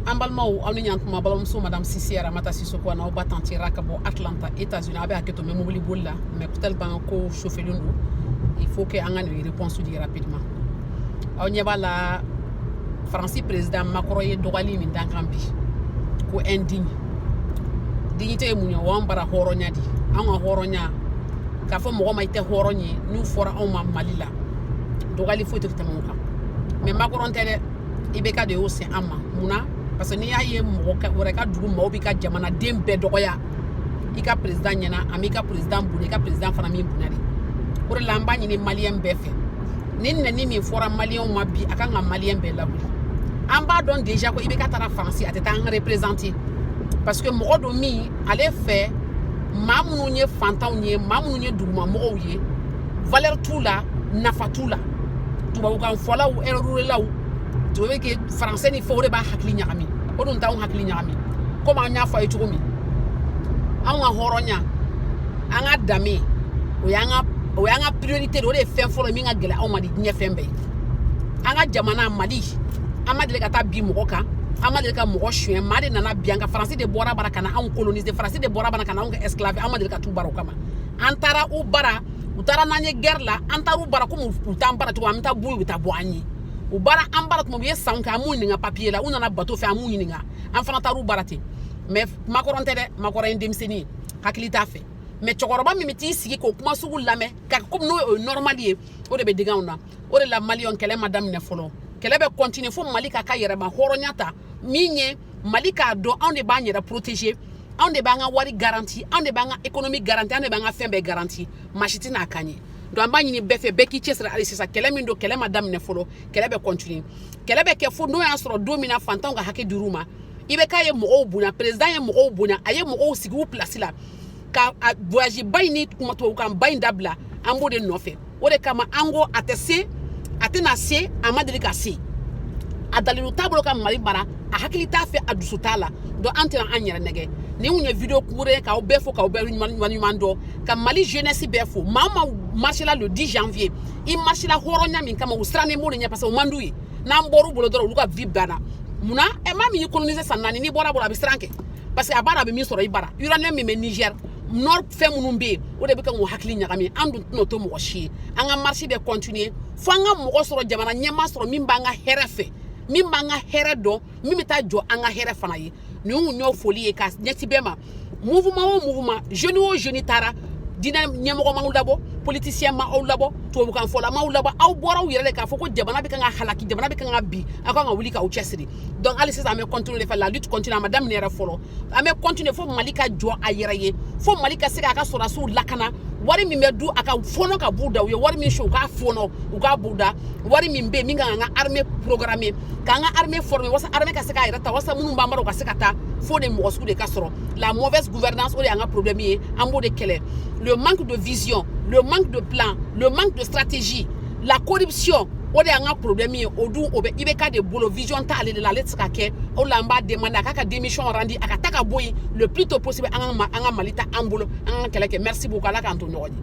an balimaw aw ni ɲantuma balimamuso madame sise ramata sisoko an'aw ba tanti ra ka bɔ atlanta états unis aw bɛ hakɛ to n bɛ mobili boli la mɛ peut-être b'an ka ko chauffelen don il faut que an ka nin réponse di rapidement aw ɲɛ b'a la faransi président makɔrɔn ye dɔgɔyali min d'an kan bi ko indigne dignité ye mun ye o y'an bara hɔrɔnya di an ka hɔrɔnya k'a fɔ mɔgɔ ma i tɛ hɔrɔn ye n'o fɔra anw ma mali la dɔgɔyali foyi tɛ tɛmɛ o kan mɛ makɔrɔn tɛ dɛ IBK de y'o se an ma mun na parce que n'i y'a ye mɔgɔ wɛrɛ ka dugu maaw b'i ka jamanaden bɛɛ dɔgɔya i ka perezidan ɲɛna a m'i ka perezidan bonya i ka perezidan fana m'i bonya de o de la an b'a ɲini maliyɛn bɛɛ fɛ nin nɛni min fɔra maliyɛnw ma bi a kan ka maliyɛn bɛɛ lawuli an b'a dɔn deja ko IBK taara faransi a tɛ taa an reperezante parce que mɔgɔ don min ale fɛ maa minnu ye fantanw ye maa minnu ye dugumamɔgɔw ye valeur t'u la nafa t'u la tubabukan fɔlaw ɛrɛrulaw tu veux que faransɛ ni fɛn o de b'a hakili ɲagami o dun t'anw hakili ɲagami komi an y'a fɔ aw ye cogo min anw ka hɔrɔnya an ka danbe o y'an ka o y'an ka priorité de o de ye fɛn fɔlɔ min ka gɛlɛn anw ma di diɲɛ fɛn bɛɛ ye an ka jamana mali an ma deli ka taa bin mɔgɔ kan an ma deli ka mɔgɔ suɲɛ maa de nana bin an kan faransi de bɔr'a bara ka na anw kolonize faransi de bɔr'a bara ka na anw kɛ esclave an ma deli ka t'u bara o kama an taara u bara u taara n'an ye gɛrɛ la an taara u bara komi u t'an bara cogo an bɛ taa bɔ u ye u bɛ taa bɔ an ye u bara an bara tuma u ye sanw kɛ an m'u ɲininka papiye la u nana bato fɛ an m'u ɲininka an fana taara u bara ten mɛ makɔrɔn tɛ dɛ makɔrɔn ye denmisɛnnin ye hakili t'a fɛ mɛ cɛkɔrɔba min bɛ t'i sigi k'o kuma sugu lamɛn ka komi n'o ye normal ye o de bɛ digi anw na o de la maliyɛnw kɛlɛ ma daminɛ fɔlɔ kɛlɛ bɛ kɔntine fo mali k'a ka yɛrɛmahɔrɔnya ta min ye mali k'a dɔn anw de b'an yɛrɛ protege anw de b'an ka wari garanti anw de b'an ka ekonomi garanti anw de b'an ka fɛn bɛɛ garanti masi tɛ n'a kan ye don an b'a ɲini bɛɛ fɛ bɛɛ k'i cɛsiri hali sisan kɛlɛ min don kɛlɛ ma daminɛ fɔlɔ kɛlɛ bɛ kɔntine kɛlɛ bɛ kɛ fo n'o y'a sɔrɔ don min na fantanw ka hakɛ dir'u ma IBK ye mɔgɔw bonya perezidan ye mɔgɔw bonya a ye mɔgɔw sigi u pilasi la ka voyaziba in ni tubabukanba in dabila an b'o de nɔfɛ o de kama an ko a tɛ se a tɛna se a ma deli ka se a dalilu t'a bolo ka mali mara a hakili t'a fɛ a dusu t'a la donc an tɛna an yɛrɛ nɛgɛn nin tun ye video court ye k'aw bɛɛ fo k'aw bɛɛ waleɲuman dɔn ka mali jeunesse bɛɛ fo maa min marsila le 10 janvier i marsila hɔrɔnya min kama u sirannen b'o de ɲɛ parce que o man d'u ye n'an bɔr'u bolo dɔrɔn olu ka vie banna munna ɛ maa min y'i coloniser san naani n'i bɔr'a bolo a bɛ siran kɛ parce que a b'a dɔn a bɛ min sɔrɔ i bara uranium min bɛ niger nord fɛn minnu bɛ yen o de bɛ kan k'u hakili ɲagami an dun tɛna o to mɔgɔ si ye an ka marche bɛ continuer fo an ka mɔgɔ sɔrɔ jamana ɲɛmaa sɔrɔ min b'an ka hɛrɛ fɛ min b'an ka hɛrɛ dɔn min bɛ taa jɔ an ka hɛrɛ fana ye nin kun y'o foli ye ka ɲɛsin bɛɛ ma mouvement o mouvement jeune o jeune taara diinɛ ɲɛmɔgɔ m'aw labɔ politicien ma aw labɔ tubabukan fɔla m'aw labɔ aw bɔra aw yɛrɛ de k'a fɔ ko jamana bɛ kan ka halaki jamana bɛ kan ka bin aw kan ka wuli k'aw cɛsiri donc hali sisan an bɛ continuer de fɛ la lutte continue a ma daminɛ yɛrɛ fɔlɔ an bɛ continuer fo Mali ka jɔ a yɛrɛ ye fo Mali ka se k'a ka sɔrɔdasiw lakana wari min bɛ dun a ka fɔnɔ ka b'u da u ye wari min sonya u k'a fɔnɔ u k'a b'u da wari min bɛ yen min ka kan ka armée programmer k'an ka armée former walasa armée ka se k'a yɛrɛ ta walasa minnu b'an bara u ka se ka taa fo de mɔgɔ sugu de ka sɔrɔ la mauvaise gouvernance o de y'an ka problème ye an b'o de kɛlɛ le manque de vision le manque de plan le manque de stratégie la corruption o de y'an ka problème ye o dun o bɛ IBK de bolo vision t'ale de la ale tɛ se k'a kɛ o la an b'a demander a k'a ka démission rendre a ka taa ka bɔ yen le plus tôt possible an ka an ka Mali ta an bolo an ka kɛlɛ kɛ merci beaucoup Ala k'an to ɲɔgɔn ye.